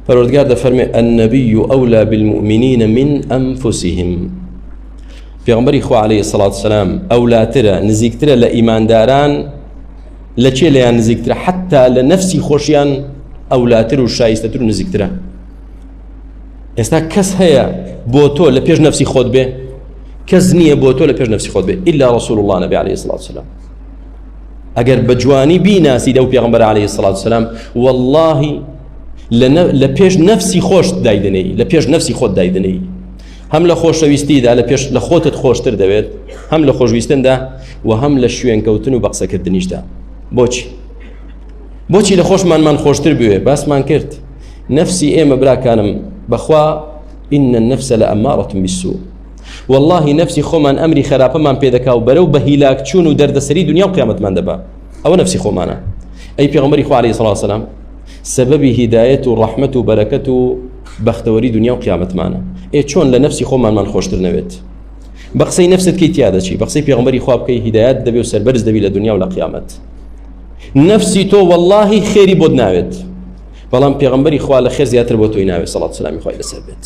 پەروەردگار دەفەرمێ النبی اولا بالمؤمنین من انفسهم پێغمبەری خوا عليه الصلاة والسلام ئەولاترە نزیکترە لە ئیمانداران لە چێ لەیان نزیکترە حتا لە نەفسی خۆشیان ئەولاتر و شایستەتر و نزیکترە ئێستا کەس هەیە بۆ تۆ لە پێش نفسی خۆت بێ کەس نییە بۆ تۆ لە پێش نفسی خۆت بێ إلا رسول الله نبی عليه الصلاة والسلام ئەگەر بە جوانی بیناسی دەو پێغمبەر عليه سلاات سلام واللهی لە پێش نەفسی خۆش دایدنەی لە پێش نەفسی خۆت دایدنەی هەم لە خۆشەویستیدا لە پێش لە خۆتت خۆشتر دەوێت هەم لە خۆشویستندا و هەم لە شوێنکەوتن و بەقسەکردنیشدا بۆچی بۆچی لە خۆشمانمان خۆشتر بوێ باسمان کرد نەفسی ئێمە براکانم بەخوا إن النفس لأمارة بالسوء واللهی نەفسی خۆمان ئەمری خراپەمان پێدەکا و بەرەو بە هیلاک چوون و دەردەسەری دنیا و قیامەتمان دەبا ئەوە نەفسی خۆمانە ئەی پێغمەری خوالی سڵاسەلام سەبەبی هیدایەت و ڕەحمت و بەرەکەت و بەختەوەری دنیا و قیامەتمانە ئێ چۆن لە نەفسی خۆمانمان خۆشتر نەوێت بە قسەی نفست کەی تیا دەچی بە قسەی پێغمبەری خواب بکەی هیدایەت دەبێ و سەربەرز دەبی لە دنیا و لە قیامەت نفسی تۆ واللهی خێری بۆت ناوێت بەڵام پێغمبەری خوا لە خێر زیاتر بۆ تۆی ناوێت سەڵات سلامی خۆی لەسەر بێت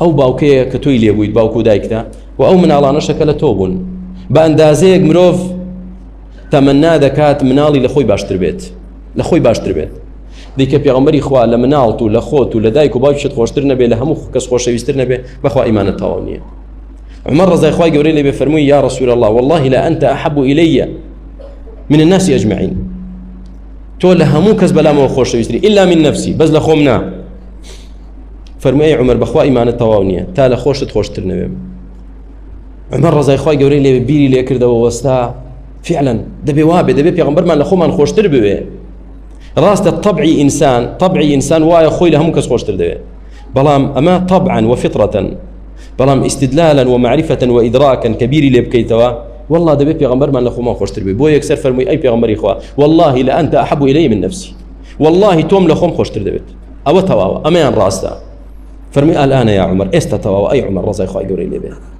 ئەو باوکەیە کە تۆی لێبوویت باوک و دایکتە و ئەو مناڵانەشە کە لە تۆ بوون بە ئەندازەیەک مرۆڤ تەمەنا دەکات مناڵی لە خۆی باشتر بێت لە خۆی باشتر بێت دیکە پێغمبەری خوا لە مناڵت و لە خۆت و لە دایک و باوکشت خۆشتر نەبێ لە هەموو کەس خۆشەویستر نەبێ بەخوا ئیمانە تەواو نییە عمر ڕزای خوای گەورەی لێ بێ فەرمووی یا رسول الله والله لا أنت أحب إلي من الناس أجمعين تۆ لە هەموو کەس بەلامەوە خۆشەویستری إلا من نفسي بەس لە خۆم نا فەرمووی ئەی عومەر بەخوا ئیمانت تەواو نییە تا لە خۆشت خۆشتر نەوێم عمر ڕزای خی گەورەی لێ بیری لێکردەوە وەستا فعلەن دەبێ وابێ دەبێت پێغمبەرمان لە خۆمان خۆشتر بوێ ڕاستە طبعی ئینسان طبعی ئینسان وایە خۆی لە هەموو کەس خۆشتر دەوێت بەڵام ئەمە طبعا وفطرەتەن بەڵام ئیسیدلالەن و معرفەتەن و ئیدراکەن کە بیری لێ بکەیتەوە والله دەبێت پێغمبەرمان لە خۆمان خۆشتر بێ بۆ یەکسەر فەرمووی ئەی پێغمبەری خوا واللهی لە ئەنتە حەبوو لەی من نفسی واللهی تۆم لە خۆم خۆشتر دەبێت ئەوە تەواوە ئەمەیان ڕاستە فەرمی ئالانە یا عمر ئێستا تەواوە ئەی عمر ڕزای خی گەوری لێبێ